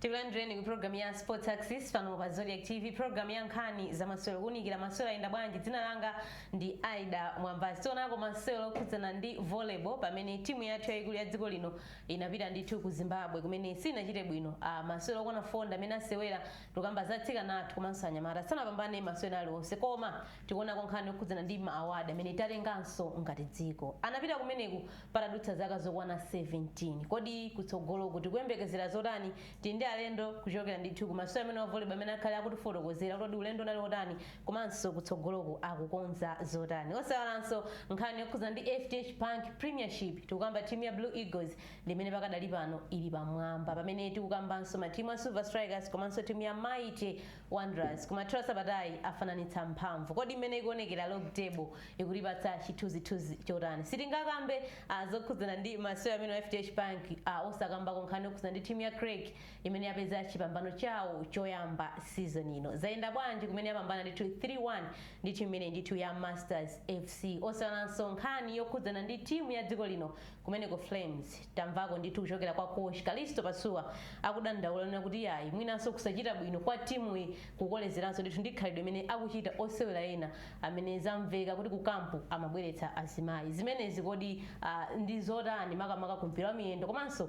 tikulandireni ku programu ya sports axis pano pa zodiak tv programu ya nkhani za masewero kuunikira masewero ayenda bwanji dzina langa ndi ida mwambazi tionako masewero okhudzana ndi volleyball pamene timu yathu yayikulu ya dziko lino inapita ndithu ku Zimbabwe kumene sinachite bwino. Masewero okwana 4 ndi amene asewera. Tikukamba za atsikana athu komanso anyamata. Sanapambane masewero aliwonse koma tikuonako nkhani yokhudzana ndi ma award amene tatenganso ngati dziko. Anapita kumeneku patadutsa zaka zokwana 17. Kodi kutsogoloku tikuyembekezera zotani? Tili ndi alendo kuchokera ndithu ku masewero amenewa a volleyball amene akhale akutifotokozera kuti kodi ulendo unali wotani komanso kutsogoloku akukonza zotani osaiwalanso nkhani yokhuza ndi fdh bank premiership tikukamba timu ya blue eagles ndi imene pakadali pano ili pamwamba pamene tikukambanso matimu a silver strikers komanso timu ya mighty wanderers kumathero a sabatayi afananitsa mphamvu kodi mmene ikuonekera log table ikutipatsa chithunzithunzi chotani sitingakambe ah, zokhudzana ndi masewero amenewa a fdh bank ah, osakambako nkhani yokhuza ndi timu ya creck imene yapeza chipambano chawo choyamba season ino zayenda bwanji kumene yapambana ndithu 3-1 ndi timu imene ndithu ya masters fc osaiwalanso nkhani yokhudzana ndi timu ya dziko lino kumeneku flames tamvako ndithu kuchokera kwa coach kalisto pasuwa akudandaula kunena kuti yayi mwinanso kusachita bwino kwa timuyi ikukolezeranso ndithu ndi khalidwe limene akuchita osewera ena amene zamveka kuti ku kampu amabweretsa azimayi zimenezi kodi ah, ndi zotani makamaka ku mpira wa miyendo komanso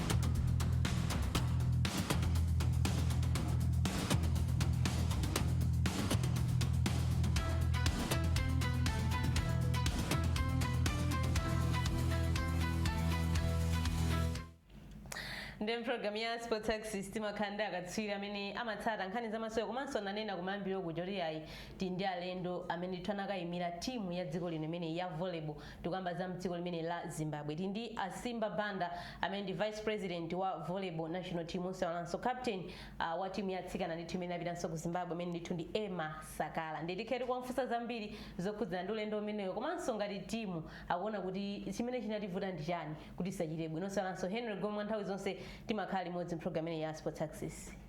ndiye mpulogalamu ya sports axis timakhala ndi akatswiri amene amatsata nkhani zamasewero komanso ndanena kumayambiriro kuja kuti yayi tili ndi alendo amene ndithu anakayimira timu ya dziko lino imeneyi ya volleyball Tikukamba za mdziko limeneli la Zimbabwe tili ndi a Simba Banda amene ndi vice president wa volleyball national team osayiwalanso captain uh, wa timu ya atsikana ndithu imene inapitanso ku Zimbabwe amene ndithu ndi Emma Sakala ndiye tikhala tikuwafunsa zambiri zokhudzana ndi ulendo umenewo komanso ngati timu akuona kuti chimene chinativuta ndi chani kuti isachite bwino osayiwalanso Henry Gome nthawi zonse timakhala limodzi mu program imeneyi ya Sports Axis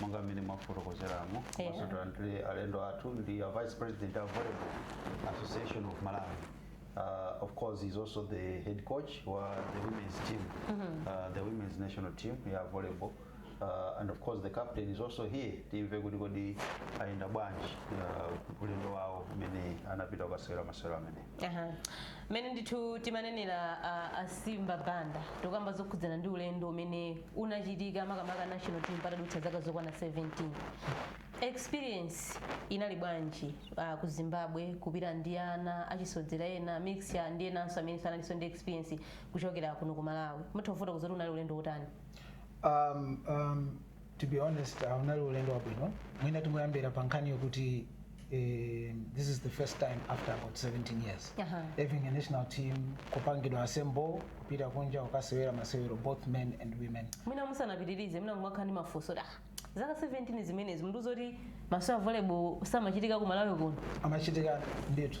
monga mmene mwafotokozeramo Yeah. mwinanso tilandire alendo athu ndi a vice president of volleyball association of malawi uh, of course he's also the head coach wa the women's team uh, the women's national team ya volleyball uh, and of course the captain is also here timve kuti kodi ayenda bwanji uh, ulendo wawo umene anapita kukasewera masewero amenewo Aha. Mene ndithu timanenera uh, asimba banda tikukamba zokhudzana ndi ulendo umene unachitika makamaka national team patadutsa zaka zokwana 17 experience inali bwanji uh, ku zimbabwe kupita ndi ana achisodzera ena mix ndi enanso amene sanalinso ndi experience kuchokera kuno ku malawi mutha kufotokoza kuti unali ulendo wotani um, um, to be honest uh, unali ulendo wabwino mwina tingoyambira pa nkhani yokuti this is the first time after about 17 years Aha. having a national team kupangidwa assemble kupita kunja kukasewera masewero both men and women mwina musanapitirize mwina kumakhala ndi mafunso oti, ah zaka 17 zimenezi mundiuza kuti masewero a volleyball samachitika ku malawi kuno amachitika ndithu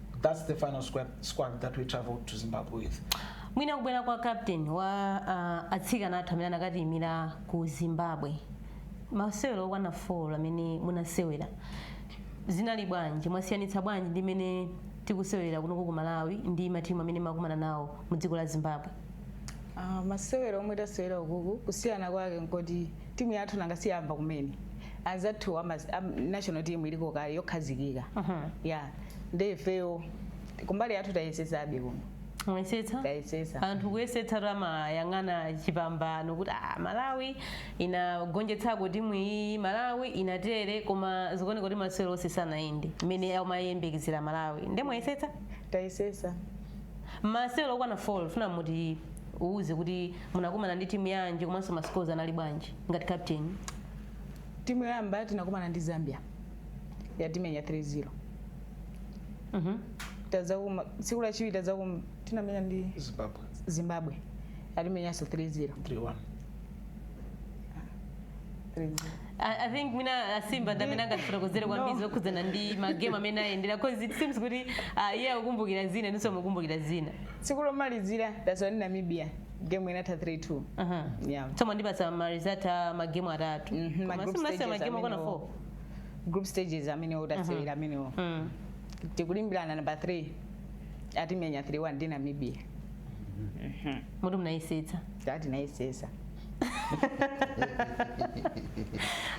that's the final squad, squad that we traveled to Zimbabwe with. mwina kubwera kwa captain wa uh, atsikana athu amene anakatiyimira ku zimbabwe masewero okwana 4 amene munasewera zinali bwanji mwasiyanitsa bwanji ndi mene tikusewerera kunoko ku malawi ndi matimu amene mwakumana nawo mu dziko la zimbabwe Ah, masewero omwe tasewera ukuku kusiyana kwake nkoti timu yathu nanga siyamba kumene anzathu ama am- national team iliko kale yokhazikika Mhm. ya nde ifeyo kumbali yathu tayesetsabe kuno mwesetsa tayesetsa anthu kuyesetsa timayang'ana chipambano kuti ah, malawi inagonjetsako timu iyi malawi inatere koma zikuoneka kuti masewero onse sanayende mmene amayembekezera malawi nde mwayesetsa tayesetsa masewero okwana 4 funa mutiuze kuti munakumana ndi timu yanji komanso masikozi anali bwanji ngati captain timu yoyamba tinakumana ndi zambia yatimenya 3-0 Mhm. tadzakuma tsiku lachiwiri tadzakuma tinamenya ndi zimbabwe zimbabwe yatimenyanso 3-0 3-1 3-0 I, I think mwina asimba ndamene angatifotokozere kwambiri zokhudzana ndi magemu amene ayendera cause it seems kuti uh, iye akukumbukira zina ndi inunso mukukumbukira zina tsiku lomalizira taswana ndi namibia game inatha 3-2 Aha. yeah. so mwandipatsa marizalti a magemu atatu Mhm, ma Koma group simunasewere stages magemu okwana amene 4 wo- group stages amene tasewera amenewo Mm. tikulimbirana namba 3 atimenya 3-1 ndi namibia moti munayesetsa tinayesetsa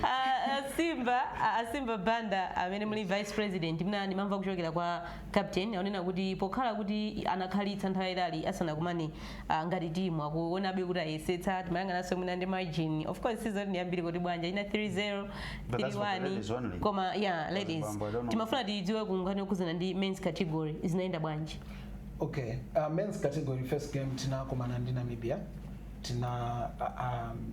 Ah, asimba ah, simba banda amene muli vice president ndi mwamva kuchokera kwa Captain akunena kuti pokhala kuti anakhalitsa nthawi yaitali asanakumane uh, ngati timu akuonabe kuti ayesetsa timayang'ananso mwina ndi margin of course sizoti ndi yambiri kuti pajapo ina 3-0 But that's for the 3-1 ladies only. koma yeah ladies Bambo, I don't know. timafuna tidziwe kunkhani yokhuzana ndi men's category zinayenda bwanji okay uh, men's category first game tinakumana ndi namibia tina uh, um,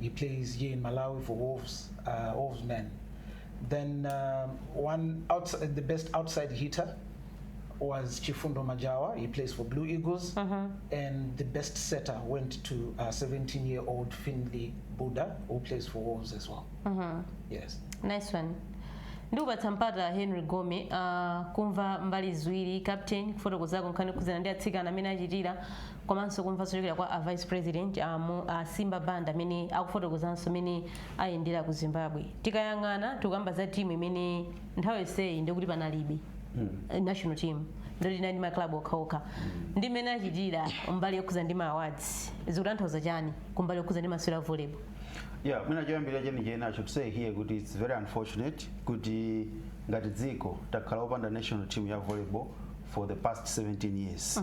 He plays here in Malawi for Wolves, uh, Wolves man. Then um, one outside, the best outside hitter was Chifundo Majawa. He plays for Blue Eagles, and the best setter went to 17-year-old Finley Buddha, who plays for Wolves as well. Yes. nice one ndikupatsa mpata henry gome uh, kumva mbali ziwiri captain kufotokozako nkhani khudzana ndi atsikana amene achitira komanso kumva zochokera kwa a vice president a, Mo- a simba banda amene akufotokozanso mmene ayendera ku zimbabwe tikayang'ana tikukamba za timu imene nthawi yonseyi ndikuti panalibe eh, national team ndikuti inali ndi maklabu okhaokha ndi mmene achitira mbali yokhuza ndi ma awards zikutanthauza chani kumbali yokhuza ndi masewera a volleyball yeah mwina choyambira chenicheni i should say here kuti it's very unfortunate kuti ngati dziko takhala opanda national team ya volleyball for the past 17 years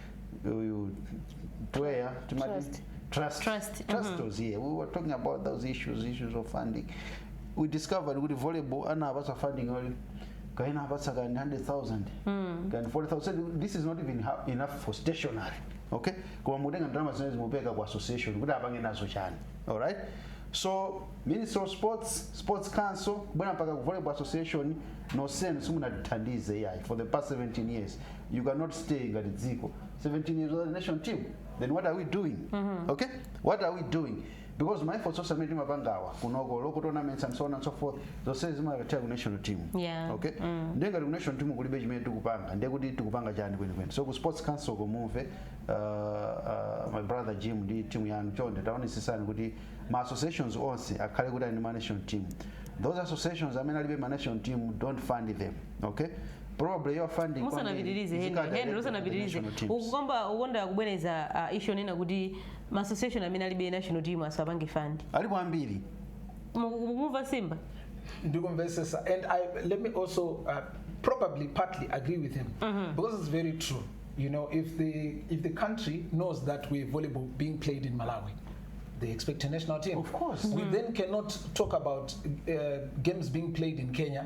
uyu player timati Trust. trust Trust, trust was here we were talking about those issues issues of funding we discovered kuti volleyball anapatsa funding oli kaina apatsa kani 100000 kani 40000 So this is not even ha- enough for stationary okay koma mutenga ndalama zimene zimupeka ku association kuti apange nazo chani alright so minister of sports sports council kubwera mpaka ku volleyball association nosenu simunatithandize yayi for the past 17 years you cannot stay ngati dziko 17 years without national team then what are we doing okay what are we doing because ma efforts onse amene timapangawa kunoko local tournaments and so on and so forth zose zimakatha ku national team Yeah. okay ndiye ngati ku national team kulibe chimene tikupanga ndiye kuti tikupanga chani kwenikweni so ku sports council kunoko uh, uh, my brother jim ndi timu yanu chonde taonesesani kuti ma associations onse akhale kuti ali ndi ma national team those associations amene alibe ma national team don't fund them okay probably your funding musanapitirize kwambiri, henry henry zikadalira usanapitirize national teams. ukukomba ukonda kubwereza uh, issue onena kuti ma association amene alibe national team asapange fund alipo ambiri Mu- mukumva simba ndikumvesesa and I, let me also uh, probably partly agree with him because it's very true you know if the if the country knows that we volleyball being played in malawi they expect a national team Of course. we then cannot talk about uh, games being played in kenya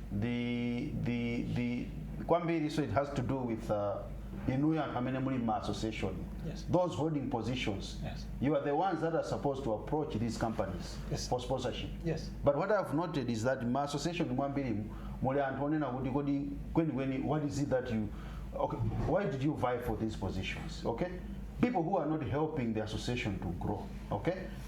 the, the, the kwambiri so it has to do with uh, inuyo anthu amene muli ma association Yes. those holding positions Yes. you are the ones that are supposed to approach these companies Yes. for sponsorship Yes. but what i've noted is that ma association mwambiri muli anthu onena kuti kodi kwenikweni what is it that you okay, why did you vie for these positions okay people who are not helping the association to grow okay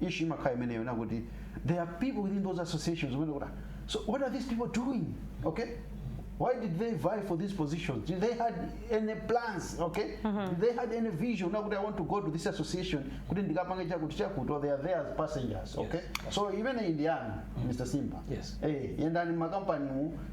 issue imakhala imeneyo na kuti there are people within those associations umene kuti "Ah, so what are these people doing okay why did they vie for these positions did they had any plans okay did they had any vision na kuti i want to go to this association kuti ndikapange chakuti chakuti or they are there as passengers okay so imeneyi ndi yanu mr simba Yes. eh yendani m'makampanimu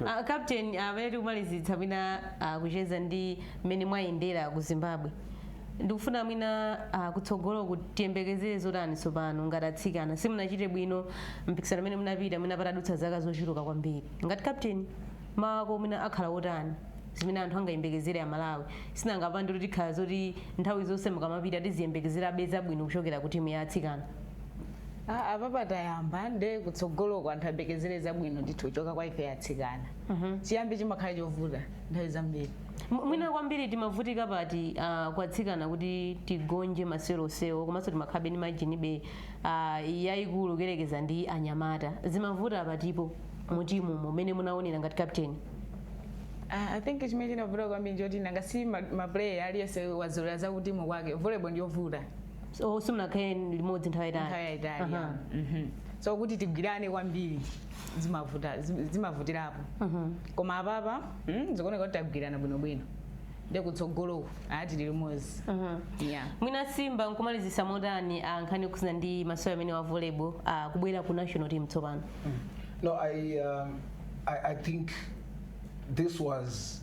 Uh, captain amene uh, tikumalizitsa mwina uh, kucheza ndi mmene mwayendera ku zimbabwe ndikufuna mwina uh, kutsogoloku tiyembekezere zotani tsopano ngati atsikana simunachite bwino mpikisano amene munapita mwina patadutsa zaka zochuluka kwambiri ngati captain mawu ako mwina akhala otani zimene anthu angayembekezere amalawi sinangapande kuti tikhala zoti nthawi zonse mukamapita tiziyembekezerabe zabwino kuchokera ku timu ya atsikana Ah, apapa tayamba nde kutsogoloko anthu ayembekezere zabwino ndithu kuchoka kwa ife atsikana chiyambi chimakhala chovuta nthawi zambiri M- mwina kwambiri timavutika pati uh, kwa atsikana kuti tigonje masewero onsewo komanso timakhalabe ndi margin ibe uh, yayikulu kuyerekeza ndi anyamata zimavuta patipo mutimumu mmene munaonera ngati captain Ah, i think chimene chinavuta kwambiri nchoti nanga si ma- maplayer aliyense wazolera zakutimu kwake volleyball ndiyovuta so simunakhale limodzi nthawi nthawi yayitali yayitali Aha. ya. Mhm. so kuti tigwirane kwambiri zimavuta zim- zimavutirapo koma apapa mm, zikuoneka kuti tagwirana bwinobwino nde kutsogoloku ati tili limodzi Aha. yeah. mwina simba nkumalizisa motani ah, nkhani yokhuzana ndi masewera amenewa a volleyball ah, kubwera ku national team tsopano No, I, um, I, I think this was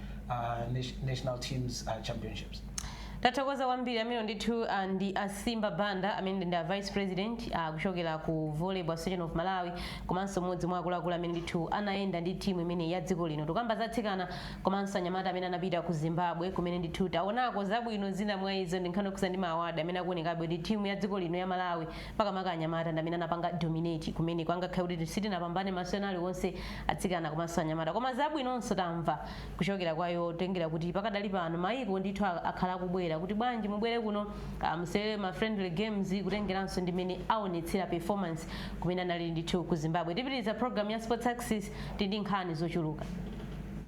uh, national teams uh, championships tathokoza kwambiri ameneyo ndithu ah, ndi asimba banda amene ndi a vice president ah, kuchokera ku volleyball association of malawi komanso mmodzi mwa akuluakulu amene ndithu anayenda ndi timu imeneyi ya dziko lino tukamba za atsikana komanso anyamata amene anapita ku zimbabwe kumene ndithu taonako zabwino zina mwa izo ndi nkhani yokhudza ndi maawadi amene akuonekabe kuti timu ya dziko lino ya malawi makamaka anyamata ndamene anapanga dominate kumeneko angakhale kuti sitinapambane masewero aliwonse atsikana komanso anyamata koma zabwinonso tamva kuchokera kwa iwo tengera kuti pakadali pano mayiko ndithu a- akhala akubwera kuti bwanji mubwere kuno ah, musewere ma friendly games kutengeranso ndi mene aonetsera performance kumene anali ndithu ku zimbabwe tipitiriza program ya sports axis ndi nkhani zochuluka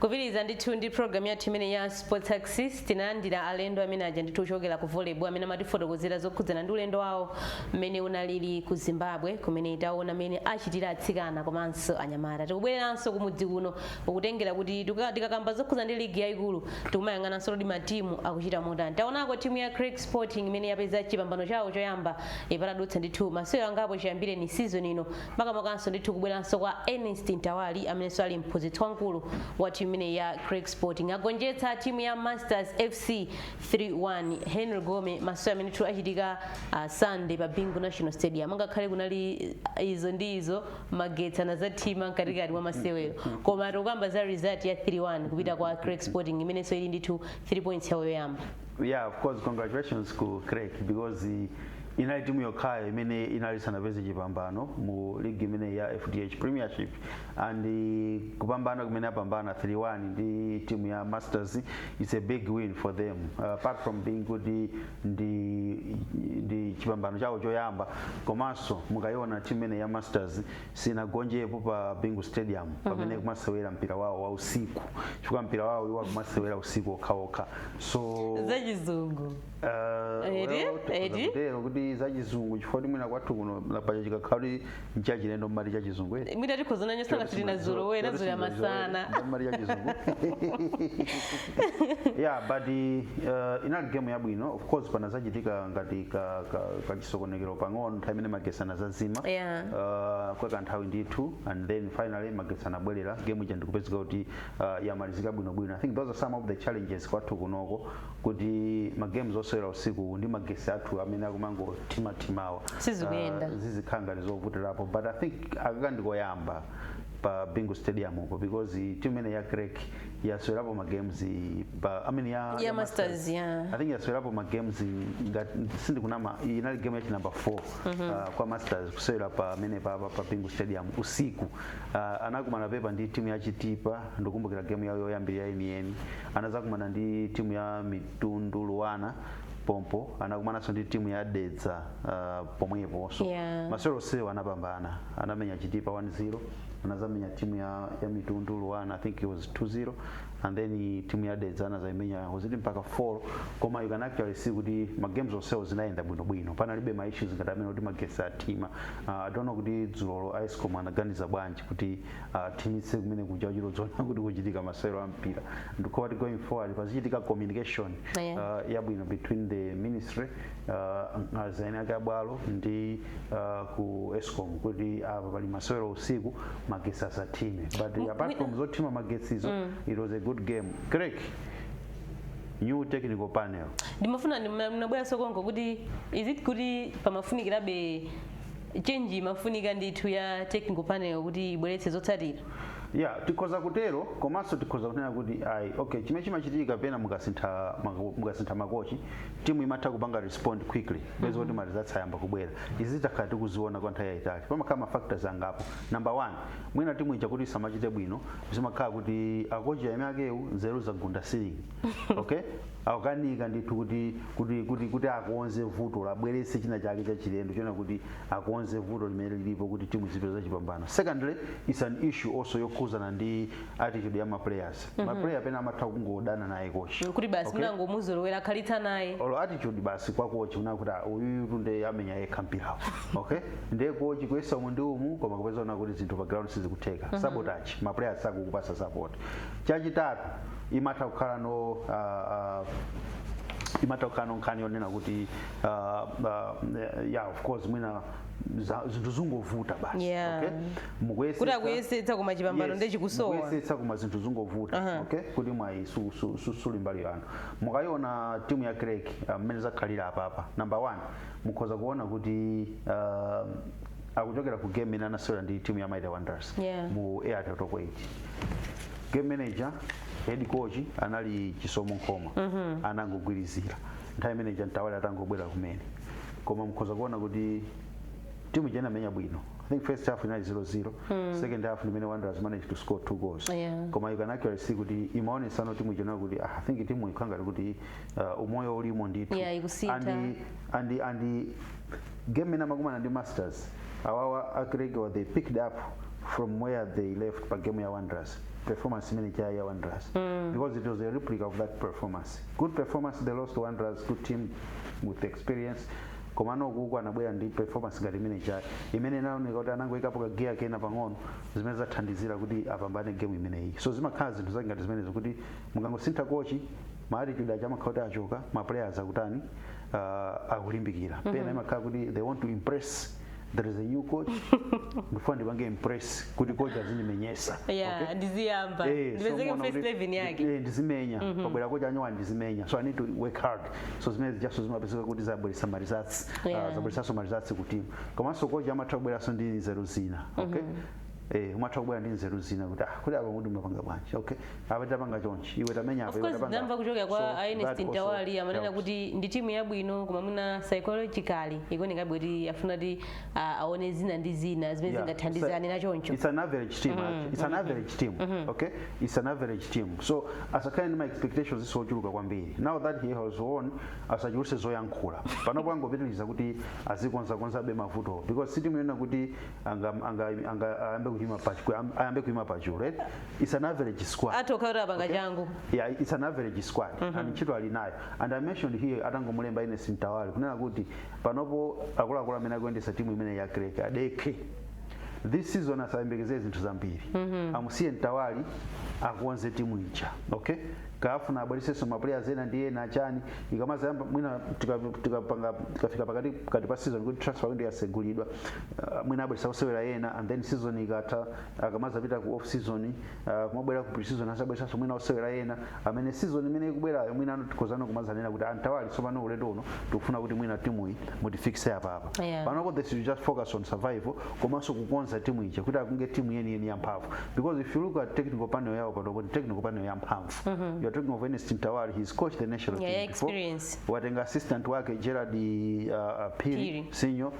kupitiriza ndithu ndi programu yathu imene ya sports axis tinalandira alendo amene aja ndithu ochokera ku volleyball amene amatifotokozera zokhudzana ndi ulendo wawo mmene unalili ku zimbabwe kumene taona mmene achitira atsikana komanso anyamata tikubwereranso kumudzi kuno pokutengera kuti tuka- tikakamba zokhuza ndi ligi yayikulu tikumayang'ananso kuti matimu akuchita motani taonako timu ya creck sporting imene yapeza chipambano chawo choyamba eh, patadutsa ndithu masewero angapo chiyambireni season ino makamakanso ndithu kubweranso kwa ernest mtawali amenenso ali mphunzitsi wamkulu wa timu imeneyi ya creck sporting agonjetsa timu ya masters fc 3-1 henry gome masewero amene ndithu achitika uh, sunday pa bingu national stadium angakhale kunali ah, izo ndi izo magetsi anazathima mkatikati mwa masewero koma tikukamba za result ya 3-1 kupita kwa creck sporting imenenso ili ndithu 3 points yawo yoyamba yeah of course congratulations ku creck because eh, inali timu yokhayo imene inali sanapeze chipambano mu ligi imene ya fdh premiership and eh, kupambana kumene apambana 3-1 ndi timu ya masters its a big win for them uh, apart from being kuti ndi ndi chipambano chawo choyamba komanso mukayiona timu imene ya masters sinagonjepo pa bingu stadium mhm. pamene akumasewera mpira wawo wa usiku chifukwa mpira wawo iwo akumasewera usiku okhaokha so zachizungu uh, eti eti kuti zachizungu chifukwa kuti mwina kwathu kuno pacho chikakhala kuti nchachilendo mmati chachizungu eti mwina tikhoza nanyo sanga sitinazolowe nazoya masana mmati chachizungu yeah but uh, inali game yabwino of course panazachitika ngati ka- ka- kachisokonekero pang'ono nthawi imene magesi anazazima Yeah. uh, kwa kanthawi ndithu and then finally magesi anabwerera game ija ndikupezeka kuti uh, yamalizika bwinobwino i think those are some of the challenges kwathu kunoko kuti ma games osewera usiku ndi magesi athu amene akumangothimathimawa Sizikuyenda. ah, zizikhala ngati zovutirapo but i think akaka ndikoyamba pa bingu stadium upo because timu imene ya creck yasewerapo ma games i- pa i mean ya, Ya Masters, yeah. i think yasewerapo ma games i- ngati sindikunama inali game yachi number 4 ah, kwa masters kusewera pa amene pa, pa, pa bingu stadium usiku Ah, anakumanapo ndi timu ya chitipa ndikumbukira game yawo yoyambirira yeniyeni anazakumana ndi timu ya Mitundu Luana pompo anakumananso ndi timu ya Dedza uh, pomwepo so yeah. masewero onsewa anapambana anamenya chitipa 1-0 anazamenya timu ya, ya mitundu Luana I think it was 2-0 and then timu ya Dedza anazaimenya was it mpaka 4 koma you can actually see kuti ma game onsewo zinayenda bwino bwino panalibe ma issues ngati amene kuti magetsi athima uh, I don't know kuti dzulolo ESCOM anaganiza bwanji kuti athimitse kumene kuja kuchita kudziwa kuti kuchitika masewero a mpira ndikuona kuti going forward pazichitika communication Yeah. uh, yabwino between the ministry uh, azieni ake abwalo ndi uh, ku ESCOM kuti apa pali masewero usiku magetsi asathime but apart from zothima magetsizo it was a good game Creck, new technical panel ndimafuna ndinabweranso konko kuti is it kuti pamafunikirabe change imafunika ndithu ya technical panel kuti ibweretse zotsatira yeah tikhoza kutero komanso tikhoza kunena kuti ayi okay chimene chimachitika pena mukasintha mako- mukasintha makochi timu imatha kupanga respond quickly basi kuti ma results ayamba kubwera izi takhala tikuziona kwa nthawi yayitali pamakhala ma factors angapo number one mwina timu ija kuti isamachite bwino zimakhala kuti akochi aeni akewo nzeru zagunda ceiling okay akukanika ndithu kuti kuti kuti kuti akonze vuto abweretse china chake chachilendo chonena kuti akonze vuto limene lilipo kuti timu izipeza chipambano secondly it's an issue also yokhuzana ndi attitude ya maplayers mm -hmm. maplayer pena amatha kungodana naye kochi kuti basi okay? munangomuzolowera wakhalitsa naye olo attitude basi kwa kochi yonena kuti uyu timuone amenya yekha mpirawo okay ndiye kochi kuyesa umu ndi umu koma kupeza kunena kuti zinthu pa ground sizikutheka mm -hmm. sabotage maplayers sakukupatsa support chachitatu imatha kukhalano uh, uh, imatha kukhalano nkhani yonena kuti uh, uh, yeah of course mwina za- zinthu zungovuta basi Yeah. okay? kuti Mukuyesetsa- akuyesetsa koma chipambano nde chikusowa mukuyesetsa koma zinthu zungovuta Aha. okay kuti mwayi su- su- su- suli mbali yanu mukayiona timu ya Creck mmene zakhalira apapa number one mukhoza kuona kuti ah, akuchokera ku game imene anasewera ndi timu ya Mighty Wanderers Yeah. mu Airtel Top 8 game imeneija head coach anali Chisomo Nkhoma anangogwirizira nthawi imene ija Mtawali atangobwera kumene koma mukhoza kuona kuti timu ija inamenya bwino i think first half inali 0-0 second half ndimene Wanderers managed to score two goals Yeah. koma you can actually see kuti imaonetsano timu ija nayo kuti ah, i think timu ikukhala ngati kuti uh, umoyo ulimo ndithu Yeah, ikusintha. and, and, and game imene amakumana ndi masters awawa a creck awa they picked up from where they left pa game ya wanderers performance imene ijayi ya wanderers because it was a replica of that performance good performance they lost to wanderers good team with experience komano ukuku anabwera ndi performance ngati imene ijayi imene inaoneka kuti anangoikapo kagiya kena pang'ono zimene zathandizira kuti apambane game imeneyi so zimakhala zinthu zake ngati zimenezo kuti mukangosintha coach maatitude aja amakhala kuti achoka maplayers akutani uh, akulimbikira pena imakhala kuti they want to impress there is a new coach ndifuna ndipange impress kuti coach azindimenyesa yeah okay? ndiziyamba Eh, so ndipezeke mu first kuti- eleven yake eh, ndizimenya pabwera coach wanyowani ndizimenya so i need to work hard so zimene zijaso zimapezeka kuti zabweresa ma results Yeah. zabweresaso ma results ku timu komanso coach amatha kubweranso ndi nzeru zina okay Eh, umatha kubwera ndi nzeru zina kuti ah, kuti apa kuti mumapanga bwanji okay apa tapanga chonchi iwe tamenya apa of iwe course tapanga ndamva kuchokera kwa So, that Ernest also Mtawali amanena helps. kuti ndi timu yabwino koma mwina psychologically ikuoneka kuti afuna kuti ah, aone zina ndi zina zimene Yeah, zingathandize it's a- anena choncho It's an average team. actually. It's an average team. Okay? It's an average team. So asakhale ndi ma expectations ochuluka kwambiri. Now that he has won asachuluse zoyankhula. Panopo angopitiriza kuti azikonzakonzabe mavuto because si timu yonena kuti anga anga anga ayambe kuima pa kuyam- ayambe kuima pachulu right it's an average squad atokha kuti apanga changu yeah, it's an average squad and ntchito ali nayo and i mentioned here atangomulemba ernest mtawali kunena kuti panopo akuluakulu amene akuyendesa timu imene ya creck adekhe this season asayembekezere zinthu zambiri amusiye mtawali akonze timu ija okay akafuna abweresenso maplayers ena ndi ena achani ikamazayamba mwina tika- tikapanga- tikafika pakati kati pa season kuti transfer window yasegulidwa uh, mwina abweresa osewera ena and then season ikatha akamazapita ku off season uh, kumabwera ku pre-season azabweresanso mwina osewera ena amene season imene ikubwerayo mwina tikhozano kumazanena kuti a Mtawali tsopano ulendo uno tikufuna kuti mwina timu iyi mutifikise apapa Yeah. panopo they should just focus on survival komanso kukonza timu ija kuti akunge timu yeniyeni yamphamvu because if you look at technical panel yawo panopo ni technical panel yamphamvu you are talking of Ernest Mtawali he's coached the national Yeah, team before experience. watenga assistant wake Gerald uh, uh, Phiri, Phiri. Senior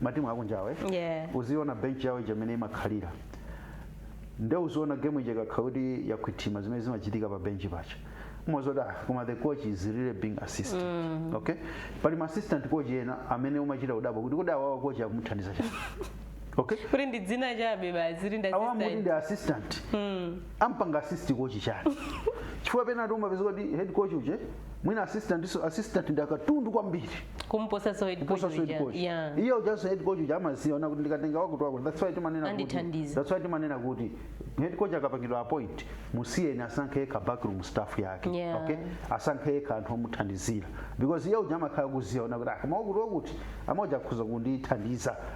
matimu akunjawe Yeah. uziona bench yawo ija imene imakhalira nde uziona game ija ikakhala kuti yakhwithima zimene zimachitika pa bench paja umaziwa kuti ah koma the coach is really being assisted okay pali ma assistant coach ena amene umachita kudabwa kuti kodi awawa coach akumuthandiza chani okay kuti ndi dzina chabe basi kuti ndi awa amati assistant. ndi assistant ampanga assist coach, chani chifukwa pena umapeza kuti head coach uja mwina assistant so assistant ndi akatundu kwambiri kumposa so head coach kuposa so head uja. coach yeah iye ujaso head coach uja amaziona kuti ndikatenga wakuti wakuti that's why timanena kuti Andithandize. that's why timanena kuti head coach akapangidwa appoint musiyeni asankhe yekha backroom staff yake Yeah. okay asankhe yekha anthu omuthandizira because iye uja amakhala kuziona kuti ah koma wakuti wakuti amaja akhoza kundithandiza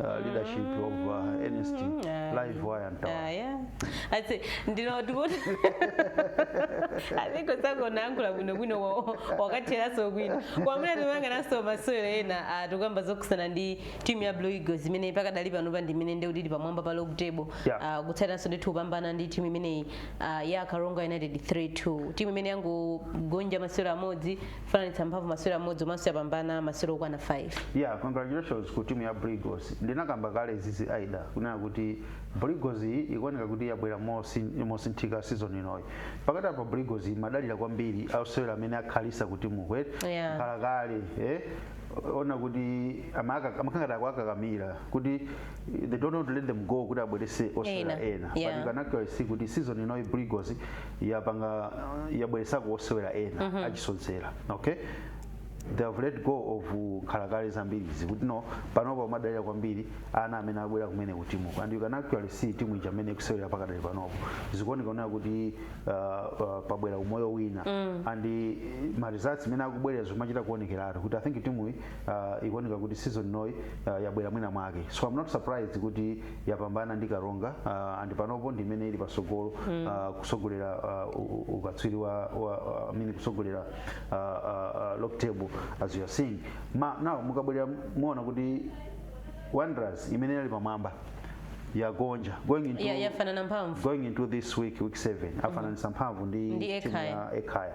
uh, leadership of uh, Ernest Livewire Mtawali. Ah, yeah. I say, ndilo tikuti Ali Kosa akanayankhula bwinobwino wa- wakatheranso bwino kwamene tikuyang'ananso masewero ena ah, tikuyamba zokhuzana ndi timu ya blue eagles imene pakadali pano pa ndimene ndi kuti ili pamwamba pa log table Yeah. Ah, kutsatiranso ndithu kupambana ndi timu imeneyi ah, ya karonga united 3-2 timu imene yangogonja masewero amodzi fananitsa mphamvu masewero amodzi komanso yapambana masewero okwana 5 yeah congratulations ku timu ya Blue Eagles ndinakamba kale izizi aida kunena kuti Blue Eagles iyi ikuoneka kuti yabwera mosin- mosinthika season inoyi pakati apo Blue Eagles imadalira kwambiri asewera amene akhalitsa ku timu Yeah. kalekale eh? ona kuti amaka- amakhala ngati akuwakakamira kuti eh, they don't want to let them go kuti abweretse osewera Ena, ena yeah. but you can actually see kuti season inoyi Blue Eagles yapanga yabweretsako osewera ena mm -hmm. achisodzera okay they have let go of mkhalakale zambiri so panopa akudalira kwambiri ana amene abwera kumene kutimuko and you can actually see timu ija mmene ikusewera pakadali panopo zikuoneka kunena kuti uh, uh, pabwera umoyo wina mm. and uh, ma results mmene akubwerera zimachita kuonekeratu kuti i think timuyi uh, ikuoneka kuti season inoyi uh, yabwera mwina mwake so i'm not surprised kuti yapambana ndi karonga uh, and panopo ndi imene ili patsogolo mm. uh, kutsogolera uh, u- u- ukatswiri wa, wa, I mean kutsogolera uh, uh, uh, log table as you are seeing now mukabwerera muona kuti wanderers imene inali pamwamba yagonja going into Ya- yafanana mphamvu going into this week week 7 afananisa mphamvu ndi Ndi timu Ekhaya. ya ekhaya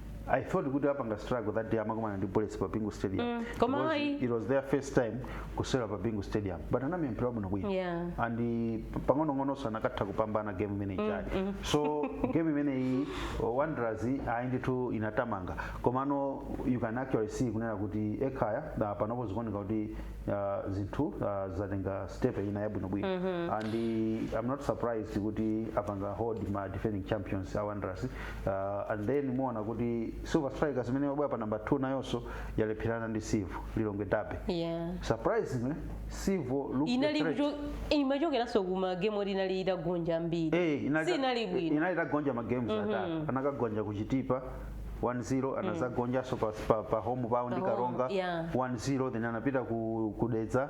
I thought kuti apanga struggle that day amakumana ndi Bullets pa Bingu Stadium. Mm, koma Because ayi. it was their first time kusewera pa Bingu Stadium. But anamenya mpira wabwino bwino. Yeah. And eh, pang'ono ng'ononso akanatha kupambana game imene ijayi. So game imene iyi oh, Wanderers ayi ndithu inatamanga. Komano you can actually see kunena kuti ekhaya ah, panopo zikuoneka kuti ah, zinthu ah, zatenga step ina yabwino bwino. And eh, I'm not surprised kuti apanga hold ma defending champions a Wanderers Uh, and then muona kuti Silver Strikers imene imabwera pa number 2 nayonso yalepherana ndi Civo Lilongwe Derby. Yeah. Surprisingly, Civo looked inali the threat. imachokeranso kuma game oti inali itagonja mbiri yake Eh, inali sinali bwino inali itagonja ma games atatu. Anakagonja ku Chitipa 1-0 anazagonjanso pa, pa, pa home ground Pa home, ndi Karonga yeah. 1-0 then anapita ku, ku Dedza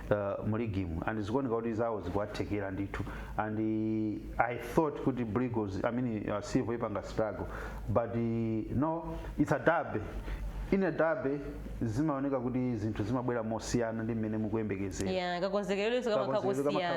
uh, mu ligimu and zikuoneka kuti zawo zikuwathekera ndithu and uh, i thought kuti brigos i mean uh, civil ipanga struggle but uh, no it's a derby in a derby zimaoneka kuti zinthu zimabwera mosiyana ndi mmene mukuyembekezera yeah kakonzekeredwe kamakhala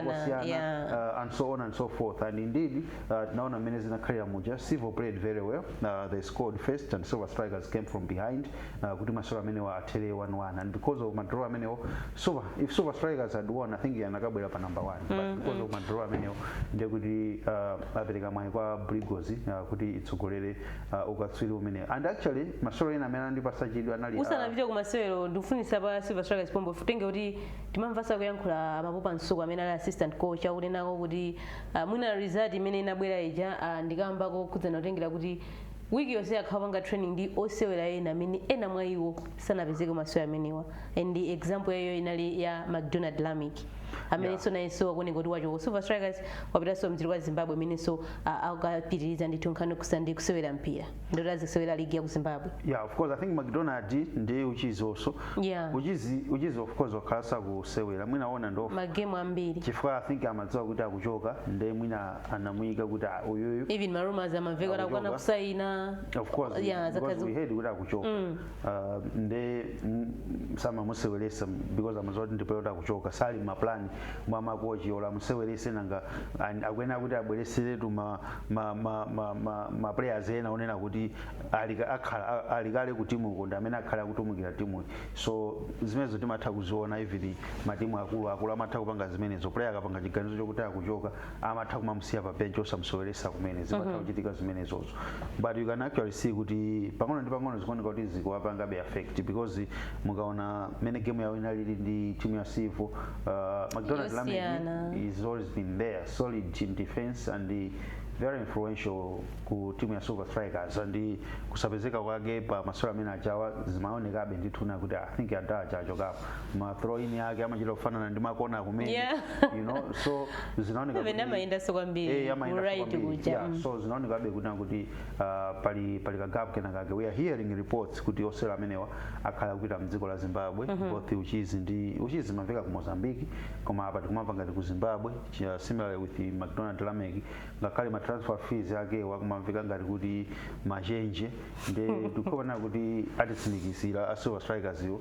kosiyana yeah uh, and so on and so forth. And indeed, uh, tinaona mmene zinakhalira muja. Civo played very well. Uh, they scored first and Silver Strikers came from behind. uh, kuti masewero amenewa athere 1-1 and because of madraw amenewo silver if silver strikers had won i think akanabwera pa number 1 but because of madraw amenewo ndiye kuti uh, apereka mwayi kwa brigos uh, kuti itsogolere uh, ukatswiri umene and actually masewero ena amene andipasa chidwi anali uh, usanapite ku masewero ndikufunse pa silver strikers pompo potengera kuti timamvanso kuyankhula Mapopa Msukwa amene ali assistant coach akunenapo kuti uh, mwina result imene inabwera ija uh, ndi kamba kokhudzana kutengera kuti Week yonse akhala akupanga training ndi osewera ena amene ena mwa iwo sanapezeke ku masewera amenewa and example ya iwo inali ya McDonald Lameck amenenso nayenso akuoneka kuti wachoka ku Silver Strikers wapitanso mdziko la Zimbabwe amenenso a- akapitiriza ndithu nkhani yokhudzana ndi kusewera mpira ndoti azisewera ligi ya ku Zimbabwe yeah of course i think mcdonald ndi uchizi also Yeah. uchizi uchizi of course wakhala asakusewera mwina kwa nthawi magemu ambiri chifukwa i think amadziwa kuti akuchoka nde mwina anamuyika kuti "Ah, uyuyu even marumas amamveka kuti amakana Akuchoka. kusayina of course yeah, because zakazi- we heard kuti akuchoka uh, nde mm, samamuseweresa because amaziwa kuti ndi player yoti akuchoka sali mma plan mwa makochi olo amusewerese nanga and akuyenera kuti abwereseretu ma, ma, ma, ma, ma, ma players ena onena kuti alika- akhala- a- alikale ku timu ukoko ndi amene akhala akutumikira timu so zimenezo timatha kuziona even matimu akulu akulu amatha kupanga zimenezo player akapanga chiganizo chokuti akuchoka amatha kumamusiya pa bench osamuseweresa kumene zimatha kuchitika zimenezozo but you can actually see kuti pang'ono ndi pang'ono zikuoneka kuti zikuwapangabe affect because mukaona mene game yawo inalili ndi timu ya civo uh, mcdonald Yosiyana. lameck has always been there solid in defense and uh, very influential ku timu ya silver strikers and uh, kusapezeka kwake pa masewero amene ajawa zimaonekabe ndithu nena kuti i think wina wachokapo ma throw in ake amachita kufanana ndi makona kumene Yeah. you know so zinaoneka Even kuti- amayendanso kwambiri, Eh, amayendanso right kwambiri. kuja, Yeah, mm. so zinaonekabe kuti kuti ah, pali pali kagapu kena kake we are hearing reports kuti osewera amenewa akhala kupita mdziko la zimbabwe both uchizi ndi uchizi mamveka ku mozambique koma apa tikumamva ngati ku zimbabwe chi- similarly with mcdonald lameck ngakhale ma transfer fees ake akumamveka ngati kuti machenje nde tikuona kuti atitsimikizira a silver strikers iwo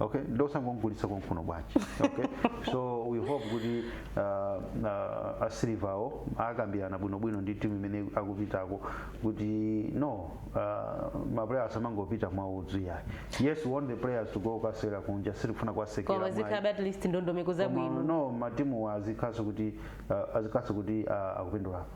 okay nd'osangogulitsa konkuno bwanji okay so we hope kuti uh, uh, a Silverwo akambirana bwinobwino ndi timu imene akupitako kuti no uh, maplayers asamangopita mwaudzu ayi yes we want the players to go kasewera kunja sitikufuna kuwatsekera koma mwayi. zikhala at least ndondomeko Koma zabwino no matimu azikhalanso kuti uh, azikhalanso kuti uh, akupindulapo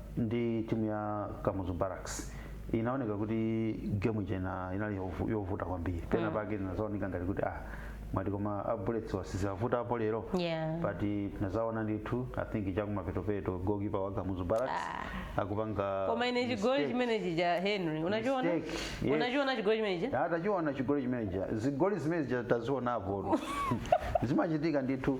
ndi timu ya Kamuzu Barracks inaoneka kuti game ija ina- inali yovu- yovuta kwambiri pena pake zinadzaoneka ngati kuti ah mwati koma a bullets wa zawavutapo lero Yeah. but tinadzaona ndithu i think chakumapetopeto gokipa wa Kamuzu Barracks akupanga koma ine chigoli mistake. chimene chija henry unachiona Mistake, yes. unachiona chigoli chimene chija atachiona chigoli chimeneja zigoli zimene zija tazionapo zimachitika ndithu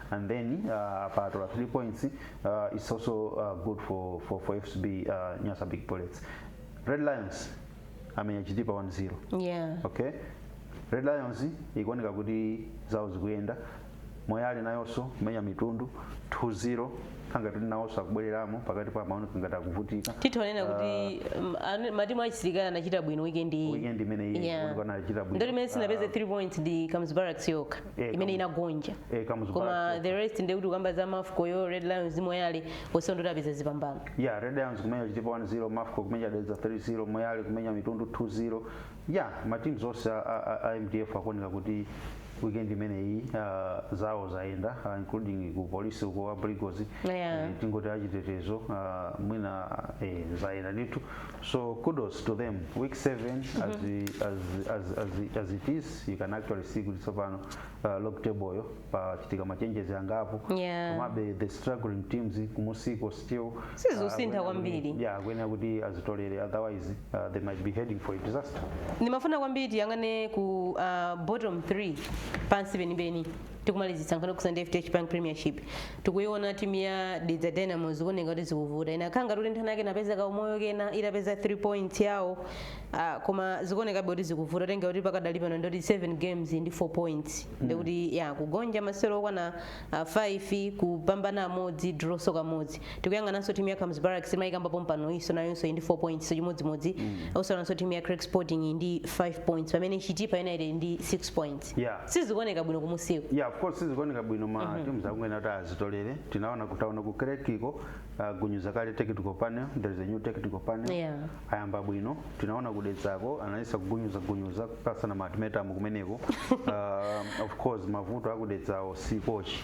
and then uh, apa atola 3 points uh, it's also uh, good for, for, for fcb uh, nyasa big bullets red lions amenya Chitipa 1-0 yeah okay red lions ikuoneka kuti zawo zikuyenda moyale nayonso kumenya mitundu 2-0 kukhala ngati kuti nawonso akubwereramo pakati pa amaoneka ngati akuvutika tithonena kuti um, anu- matimu achisilikali anachita bwino weekend iyi weekend imene Yeah. anachita bwino ndoti imene sinapeze 3 points ndi Kamuzu Barracks yokha Eh, imene inagonja Eh, Kamuzu koma Barracks. the rest ndekuti kukamba za mafco yo red lions moyale onse ndoti apeza zipambano ya red lions kumenya chitipa 1-0 mafco kumenya dedza 3-0 moyale kumenya mitundu 2-0 ya matimu onse a- a- a- a mdf akuoneka kuti weekend imeneyi ah, zawo zayenda ah, including ku polisi uko a Blue Eagles Yeah. tingoti achitetezo ah, mwina eh, zayenda ndithu So kudos to them. Week seven, as, we, as, as, as, as it is, you can actually see kuti tsopano uh, log table yo pachitika machenjezi angapo Yeah. komabe the struggling teams kumusiko still Sizikusintha uh, akuyenera kuti- kwambiri. yeah akuyenera kuti azitolere otherwise uh, they might be heading for a disaster ndimafuna kwambiri tiyang'ane ku uh, bottom 3 pansi penipeni tikumalizitsa nkhani yokhudza ndi fdh bank premiership tikuiona timu ya dedza dynamos ikuoneka kuti zikuvuta ina khala ngati kuti nthawi yake inapeza kaumoyo kena itapeza 3 points yawo ah, koma zikuonekabe kuti zikuvuta tenga kuti pakadali pano ndoti 7 games ndi 4 points ndikuti yagonja masewero okwana 5 kupambana amodzi drawnso kamodzi tikuyang'ananso timu ya Kamuzu Barracks timayikamba pompanoyi nayonso ndi 4 pointsnso chimodzimodzi tikuonanso timu ya Creck Sporting ndi 5 points pamene chitipa united ndi 6 points Yeah. sizikuoneka bwino kumusiko yeah of course sizikuoneka bwino ma teams akuyenera kuti azitolere tinaona kuti ku Creck ko uh, agunyuza kale technical panel there is a new technical panel Yeah. ayamba bwino tinaona ku Dedzako anayesa kugunyuza gunyuza panasamuka timetamu kumeneko uh, of course mavuto a ku Dedzawo si kochi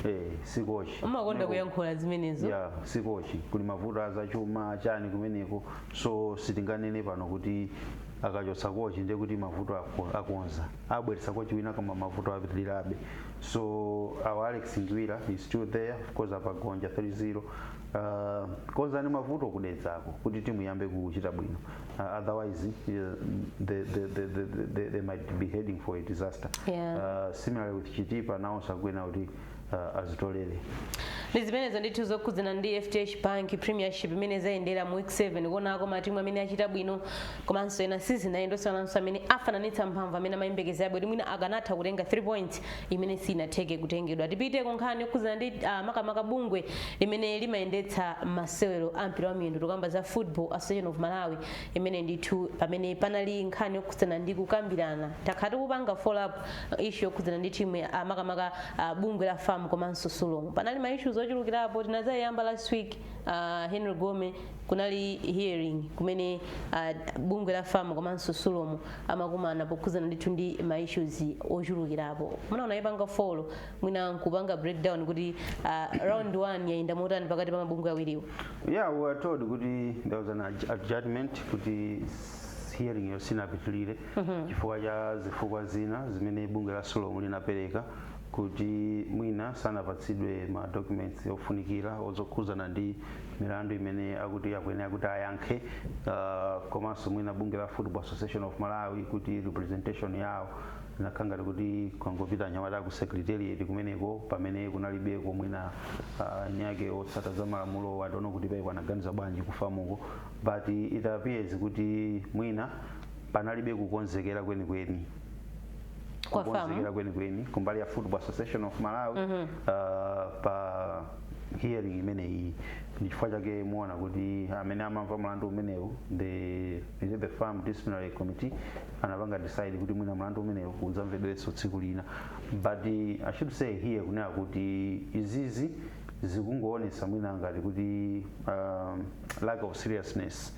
eh si kochi umakonda Kumeneko- kuyankhula zimenezo ya si kochi kuli mavuto azachuma chani kumeneko so sitinganene pano kuti akachotsa kochi ndiye kuti mavuto ako- akonza abweretsa kochi wina koma mavuto apitirirabe so our alex ngwira is still there of course apagonja 3-0 uh, konzani mavuto kudedzako kuti timu iyambe kuchita bwino uh, otherwise uh, they, they, they, they, they, they might be heading for a disaster Yeah. uh, similarly with chitipa nawonso akuyenera kuti uh, azitolere ndi zimenezo ndithu zokhudzana ndi fdh bank premiership imene zayendera mu week 7 kuonako matimu amene achita bwino komanso ena sizinayende osasiyanso amene afananitsa mphamvu amene amayembekezera bwino mwina akanatha kutenga 3 points imene sinatheke kutengedwa tipite ku nkhani yokhudzana ndi ah, makamaka bungwe limene limayendetsa masewero a mpira wa miyendo tikukamba za football association of malawi imene ndithu pamene panali nkhani yokhudzana ndi kukambirana takhala tikupanga follow up uh, issue yokhudzana ndi timu ya- ah, makamaka ah, bungwe la fam komanso sulom panali ma issues ochulukirapo tinazayamba last week ah, henry gome kunali hearing kumene ah, bungwe la fam komanso sulom amakumana pokhudzana ndithu ndi ma issues ochulukirapo munayipanga follow mwina nkupanga breakdown kuti ah, round 1 yayenda motani pakati pa mabungwe awiriwo yeah we were told kuti there was an adj- adjustment kuti s- hearing-yo sinapitilire chifukwa cha zifukwa zina zimene bungwe la sulom linapereka kuti mwina sanapatsidwe ma documents ofunikira okhuzana ndi milandu imene akuti akuyenera kuti ayankhe uh, komanso mwina bungwe la football association of malawi kuti representation yawo inakhala ngati kuti kwangopita anyamata ku secretariat kumeneko pamene kunalibeko mwina uh, nyake otsata za malamulo atiwuza kuti paipo anaganiza bwanji kufamuko but it appears kuti mwina panalibe kukonzekera kwenikweni Kwa famu. kukonzekera kwenikweni kumbali ya football association of malawi uh, pa hearing imeneyi ndi chifukwa chake muona kuti amene amamva mlandu umenewu the, the, the fam disciplinary committee anapanga decide kuti mwina mlandu umenewu udzamvedwenso tsiku lina but uh, i should say here kunena kuti izizi zikungoonesa mwina ngati kuti um, lack of seriousness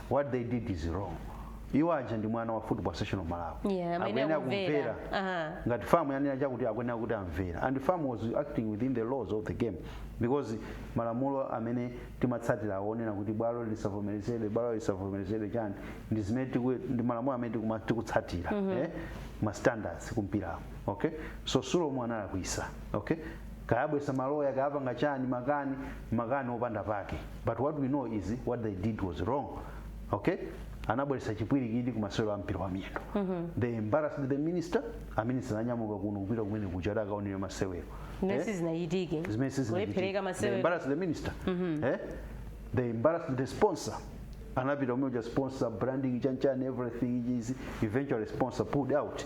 what they did is wrong iwo aja ndi mwana wa football association of malawi Yeah, amene Akuyenera akumvera. kumvera Aha. ngati famu yanena chakuti akuyenera kuti amvere and famu was acting within the laws of the game because malamulo amene timatsatira akunena kuti bwalo lisavomerezedwe bwalo lisavomerezedwe chani ndi zimene tiku- ndi malamulo amene tikuma- tikutsatira eh, ma standards kumpirawo okay so sulomo analakwisa okay kayabwesa maloya kayapanga chani makani makani opanda pake but what we know is what they did was wrong okay anabweretsa chipwirikiti ku masewero a mpira wa miyendo they embarrassed the minister aminisita ananyamuka kuno kupita kumene kuja kuti akaonere masewero Zimene sizinachitike. Eh? Kulephereka masewero. They embarrassed the minister eh? they embarrassed the sponsor anapita kumene kuja sponsor branding chanchani everything is eventually sponsor pulled out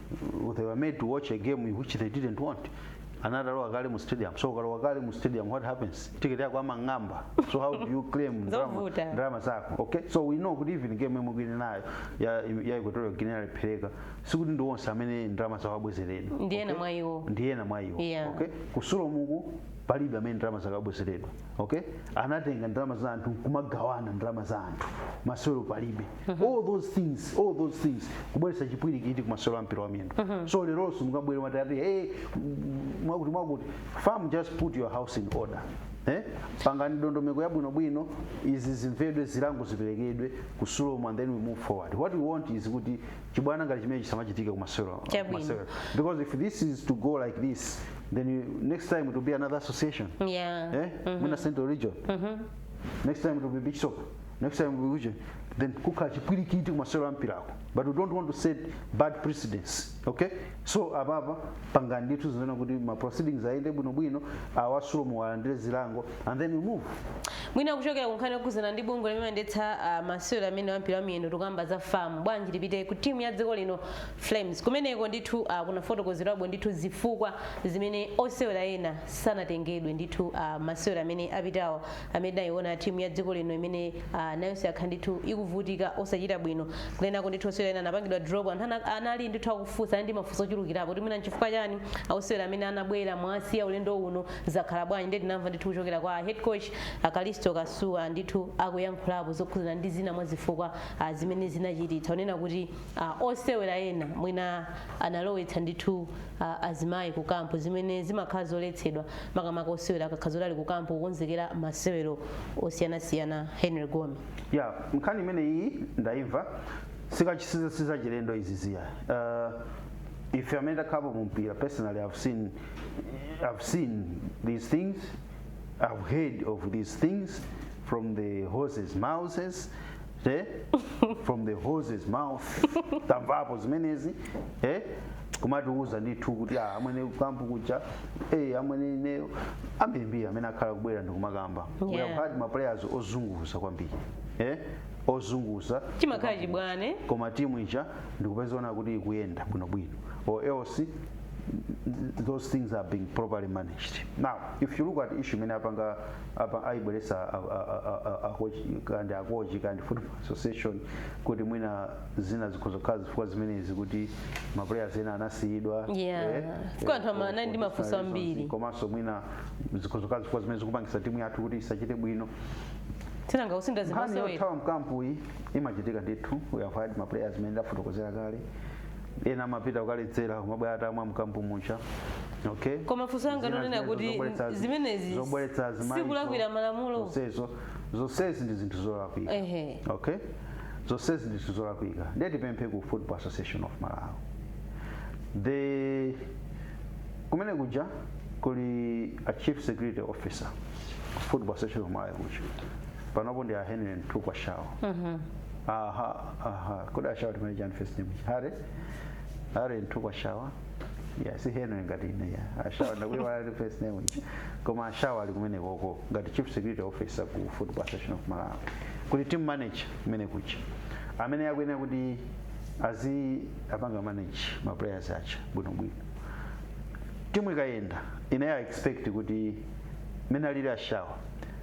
uh, they were made to watch a game in which they didn't want anatalowa kale mu stadium so ukalowa kale mu stadium what happens ticket yako amang'amba so how do you claim ndalama- Zovuta. ndalama zako okay so we know kuti even game imwe kuli nayo ya, ya equatorial guinea yalephereka sikuti ndi onse amene ndalama zawo abwezeredwa Ndi ena mwa iwo Yeah. okay ku sulom uku palibe amene ndalama zake abwezeredwa okay anatenga ndalama za anthu kumagawana ndalama za anthu masewero palibe all those things all those things kubweretsa chipwirikiti ku masewero a mpira wa miyendo so leronso mukabwera mati ati hey m- mwakuti mwakuti fam just put your house in order Eh? pangani ndondomeko yabwinobwino izi zimvedwe zilango ziperekedwe ku sulom and then we move forward what we want is kuti chibwana ngati chimenechi chisamachitike ku masewero Chabwino. because if this is to go like this then you, next time it will be another association yeah eh? Mwina central region next time it will be beach soccer next time it will be region then kukhala chipwirikiti kumasewero a mpirako but we don't want to set bad precedents okay so apapa pangani ndithu zimene kuti ma proceedings ayende bwinobwino awa a sulom alandire zilango and then we move mwina kuchokera kunkhani yokhudzana ndi bungwe limene limayendetsa ah, masewero amene ampira wa miyendo tikukamba za fam bwanji tipite ku timu ya dziko lino flames kumeneko ndithu ah, kunafotokozerwabwo ndithu zifukwa zimene osewera ena sanatengedwe ndithu ah, masewero amene apitawo amene tinayiona timu ya dziko lino imene ah, nayonso yakhala ndithu ikuvutika osachita bwino kenako ndithu osewera ena anapangidwa drop anthu ana- anali ndithu akufunsa anali ndi mafunso ochulukirapo kuti mwina nchifukwa chani osewera amene anabwera mwawasiya ulendo uno zakhala bwanji ndiye tinamva ndithu kuchokera kwa head coach a kalisto pasuwa ndithu akuyankhulapo zokhudzana ndi zina mwa zifukwa ah, zimene zinachititsa kunena kuti a osewera ena mwina analowetsa ndithu a, azimayi ku kampu zimene zimakhala zoletsedwa makamaka osewera akakhala zoti ali ku kampu kukonzekera masewero osiyanasiyana henry gome ya nkhani imeneyi ndayimva sikachi- sizachilendo izi ziya uh, ife amene takhalapo mu mpira personally i've seen, I've seen these things i've heard of these things from the horse's mouths eh? from the horse's mouth tamvapo zimenezi eh? kumatiuza ndithu kuti ah, amwene kampu kuja eh, amwene ineyo ambirimbiri amene akhala akubwera ndikumakamba we have Yeah. had ma players ozunguza kwambiri eh? ozunguza chimakhala chibwana koma timu ija ndikupezaona kuti ikuyenda bwinobwino or else those things are being properly managed now if you look at issue imene apanga apa ayibweretsa a- a- a- a- a- akochi- kandi akochi kandi football association kuti mwina zina zikhoza kukhala zifukwa zimenezi kuti maplayers ena anasiyidwa Yeah. Kwa anthu ama- anali ndi mafunso ambiri. komanso mwina zikhoza kukhala zifukwa zimene zikupangisa timu yathu kuti isachite bwino kunanga ndithu nkhani zimasewera yothawa m'kampu iyi imachitika ndithu we have had maplayers amene ndafotokozera kale ena amapita kukaledzera kumabwera atamwa mkampu muja okay koma funso langa ndi lonena zimene kuti zobweretsa- zimenezi zobweretsa azimayi sikulakwira zo- malamulo zonsezo zonsezi ndi zinthu zolakwika Ehe. okay zonsezi ndi zinthu zolakwika ndiye tipemphe ku football association of malawi kumene kuja kuli a chief security officer ku football association of malawi kuja panopo ndi a henry mtukwa shawa aha Aha, kodi a shawa timanena chani first name? Harry? Harry mtukwa shawa? Yeah, si Henry ngati ine ya. A shawa ndakuiwalani first name ija. Koma a shawa ali kumene koko ngati chief security officer ku Football Association of Malawi. Kuli team manager kumene kuja. Amene akuyenera kuti aziwapanga manage ma players aja bwino bwino. Timu ikayenda ine I expect kuti mmene alili a shawa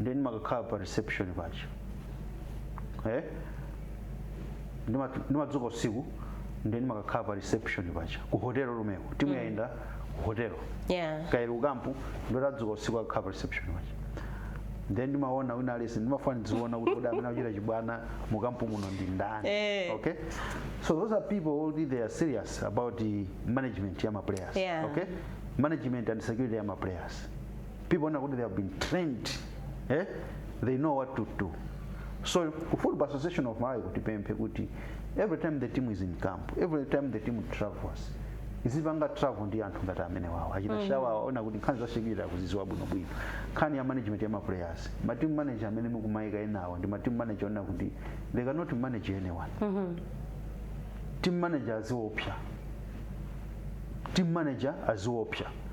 ndiye ndimakakhala pa reception paja eh? Ndima- ndimadzuka usiku ndiye ndimakakhala pa reception paja ku hotelo komweko timu yayenda ku hotelo yeah kaya ili mukampu ndithu adzuka usiku akakhala pa reception paja then ndimaona wina aliyense ndimafuna ndiziona kuti kodi amene akuchita chibwana mukampu muno ndi ndani Eh. okay so those are people who they are serious about the management ya ma players Yeah. okay management and security ya ma players people know kuti they have been trained eh? they know what to do so ku football association of malawi kuti tipemphe kuti every time the team is in camp every time the team travels izipanga travel ndi anthu ngati amenewawo a chief mm. shawa oona kuti nkhani za security akuzidziwa bwinobwino nkhani ya management ya maplayers mateam manager amene mukumayika enawo ndi mateam manager oona kuti they cannot manage anyone mm -hmm. team manager aziopsa team manager aziopsa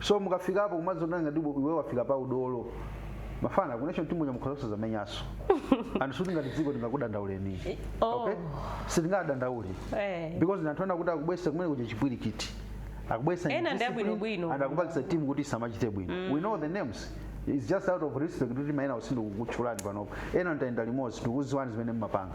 so mukafikapo kumadzionera ngati iwe- iwe wafika pa udolo mafana ku national team uja mukhoza kusazamenyanso and sikuti ngati dziko tingakudandauleni Oh. okay sitingadandaule Eh. because ndi anthu ena kuti akubweretsa kumene kuja chipwirikiti akubweretsa Ena ndi abwinobwino. and akupangitsa team kuti samachite bwino we know the names It's just out of respect kuti maina sitikukutchulani panopo ena ndinayenda limodzi ndikudziwani zimene mumapanga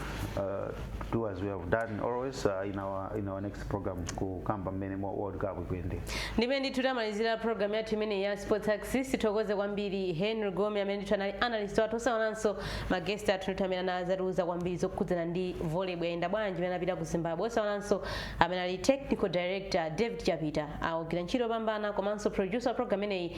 uh, do as we have done always uh, in our in our next program kukamba mmene mo- world cup ikuyendera ndimene ndithu tamalizira programu yathu imeneyi ya sports axis tithokoze kwambiri henry gome amene ndithu anali analyst wathu osaiwalanso maguest athu ndithu amene anadzatiuza kwambiri zokhudzana ndi volleyball yayenda bwanji amene anapita ku zimbabwe osaiwalanso amene ali technical director david chapita agwira ntchito yopambana komanso producer wa programu imeneyi